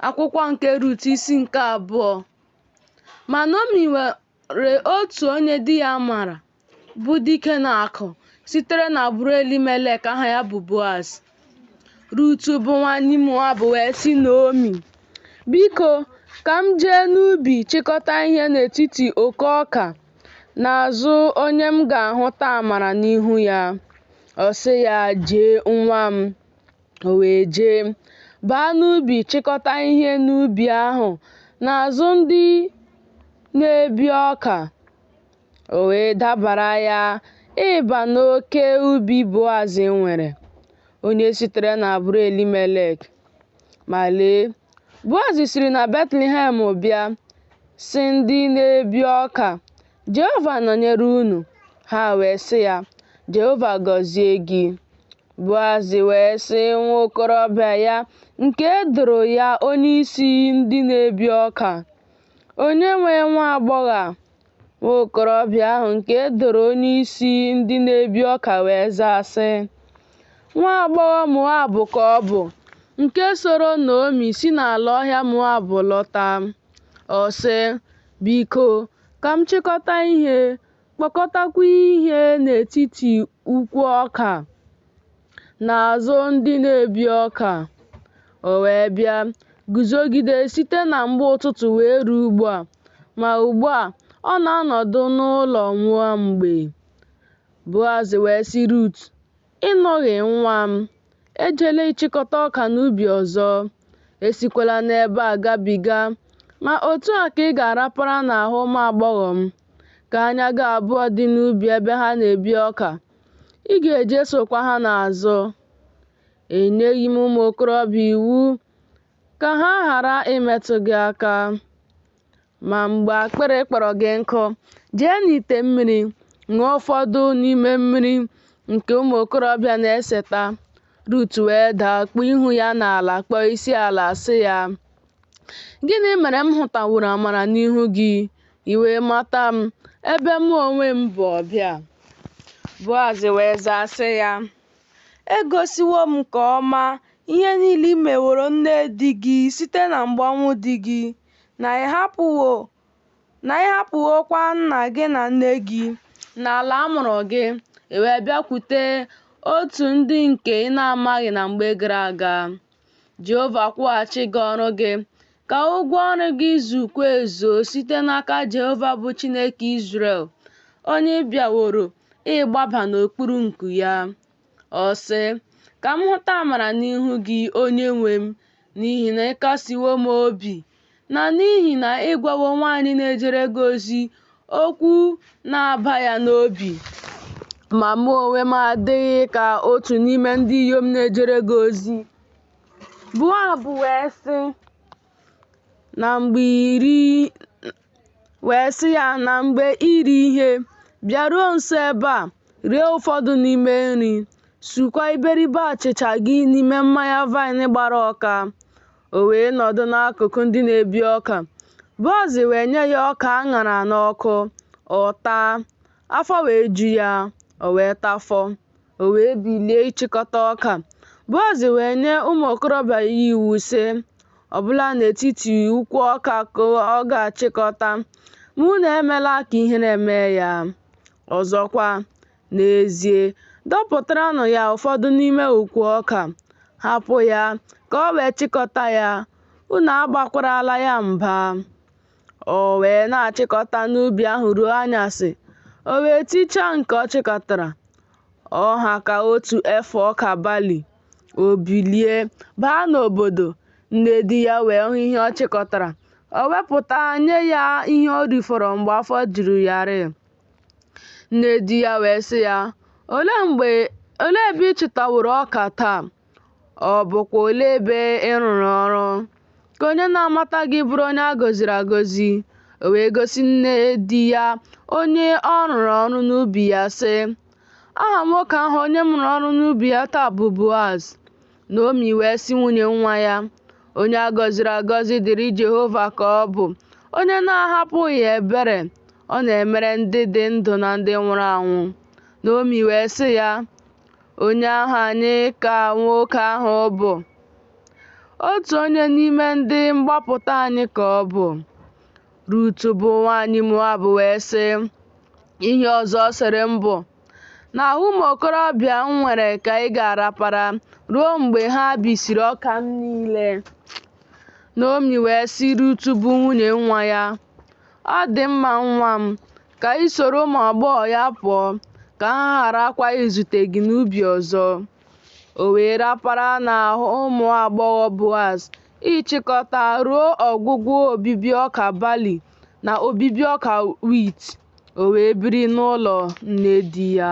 Akwụkwọ nke Rut isi nke abụọ ma Naomi nwere otu onye di ya mara bụ dike na akụ sitere n'agbụrụ Elimelek aha ya bụ Boaz. Rut bụ nwanyị Moab wee sị Naomi, Biko, ka m jee n'ubi chịkọta ihe n'etiti oko ọka n'azụ onye m ga-ahụta amara n'ihu ya. Ọ sị ya, Jee nwa m. O wee jee, baa n'ubi chịkọta ihe n'ubi ahụ n'azụ ndị na-ebi ọka. O wee dabara ya ịba n'oke ubi Boaz nwere, onye sitere n'agbụrụ Elimelek. Ma lee, Boaz siri na Betlehem bịa, sị ndị na-ebi ọka, Jehova nọnyere unu. Ha wee sị ya, Jehova gọzie gị. Boaz wee sị nwa okorobịa ya nke e doro ya onye isi ndị na-ebi ọka, onye nwe nwa agbọghọ a? Nwa okorobịa ahụ nke e doro onye isi ndị na-ebi ọka wee zaa sị, Nwa agbọghọ Moab ka ọ bụ, nke soro Naomi si n'ala ọhịa Moab lọta. Ọ sị, Biko, ka m chịkọta ihe, kpọkọtakwa ihe n'etiti ukwu ọka n'azụ ndị na-ebi ọka. O wee bịa guzogide site na mgbe ụtụtụ wee ruo ugbu a, ma ugbu a ọ na-anọdụ n'ụlọ nwa mgbe Boaz wee sị Rut, Ị nụghị nwa m, ejela ịchịkọta ọka n'ubi ọzọ, esikwala n'ebe a gabiga, ma otu a ka ị ga-arapara n'ahụ ụmụ agbọghọ m. ka anya gị abụọ dị n'ubi ebe ha na-ebi ọka, ị ga-eje sokwa ha n'azụ. Enyeghị m ụmụ okorobịa iwu ka ha ghara imetụ gị aka. Ma mgbe akpịrị kpọrọ gị nkụ, jee n'ite mmiri ṅụọ ụfọdụ n'ime mmiri nke ụmụ okorobịa na-eseta. Rut wee daa kpuo ihu ya n'ala kpọọ isi ala sị ya, Gịnị mere m hụtaworo amara n'ihu gị, i wee mata m, ebe mụ onwe m bụ ọbịa? Boaz wee zaa sị ya, Egosiwo m nke ọma ihe niile i meworo nne di gị site na mgbe ọnwụ di gị, na ị hapụwo na ị hapụwokwa nna gị na nne gị na ala a mụrụ gị i wee bịakwute otu ndị nke ị na-amaghị na mgbe gara aga jehova kwụghachi gị ọrụ gị ka ụgwọ ọrụ gị zukwa ezuo site n'aka jehova bụ chineke izrel onye ị bịaworo ịgbaba n'okpuru nku ya Ọ sị, Ka m hụta amara n'ihu gị, onye nwe m, n'ihi na ị kasiwo m obi, na n'ihi na ị gwawo nwaanyị na-ejere gị ozi okwu na-aba ya n'obi. Ma mụ onwe m adịghị ka otu n'ime ndị inyom na-ejere gị ozi. Boaz wee sị, Na mgbe iri wee sị ya na mgbe iri ihe bịaruo nso ebe a rie ụfọdụ n'ime nri sukwa iberibe achịcha gị n'ime mmanya vaịn gbara ụka o wee nọdụ n'akụkụ ndị na-ebi ọka Boaz wee nye ya ọka a ṅara n'ọkụ ọ taa afọ wee ju ya o wee tafọ O wee bilie ịchịkọta ọka. Boaz wee nye ụmụ okorobịa ya iwu, sị, Ọ bụla n'etiti ukwu ọka ka ọ ga-achịkọta, ma unu emela ka ihere mee ya. Ọzọkwa, n'ezie, dọpụtaranụ ya ụfọdụ n'ime ukwu ọka, hapụ ya ka o wee chịkọta ya, unu agbakwarala ya mba. O wee na-achịkọta n'ubi ahụ ruo anyasị, o wee tichaa nke ọ chịkọtara, ọ ha ka otu efa ọka bali. O bilie, baa n'obodo, nne di ya wee hụ ihe ọ chịkọtara. O wepụta nye ya ihe o rifọrọ mgbe afọ juru ya rịị. Nne di ya wee sị ya, Olee ebe ị chịtaworo ọka taa? Ọ bụkwa olee ebe ị rụrụ ọrụ? Ka onye na-amata gị bụrụ onye a gọziri agọzi. O wee gosi nne di ya onye ọ rụrụ ọrụ n'ubi ya, sị, Aha nwoke ahụ onye m rụrụ ọrụ n'ubi ya taa bụ Boaz. Naomi wee sị nwunye nwa ya, Onye a gọziri agọzi dịrị Jehova ka ọ bụ, onye na-ahapụghị ebere ọ na-emere ndị dị ndụ na ndị nwụrụ anwụ. Naomi wee sị ya, Onye ahụ anyị ka nwoke ahụ bụ, otu onye n'ime ndị mgbapụta anyị ka ọ bụ. Rut bụ nwaanyị Moab wee sị, Ihe ọzọ ọ sịrị m bụ, N'ahụ ụmụ okorobịa m nwere ka ị ga-arapara ruo mgbe ha bisiri ọka m niile. Naomi wee sị Rut bụ nwunye nwa ya, Ọ dị mma nwa m, Ka ị soro ụmụ agbọghọ ya pụọ, ka ha gharakwa izute gị n'ubi ọzọ. O wee rapara n'ahụ ụmụ agbọghọ Boaz ịchịkọta ruo ọgwụgwụ obibi ọka bali na obibi ọka wit, o wee biri n'ụlọ nne di ya.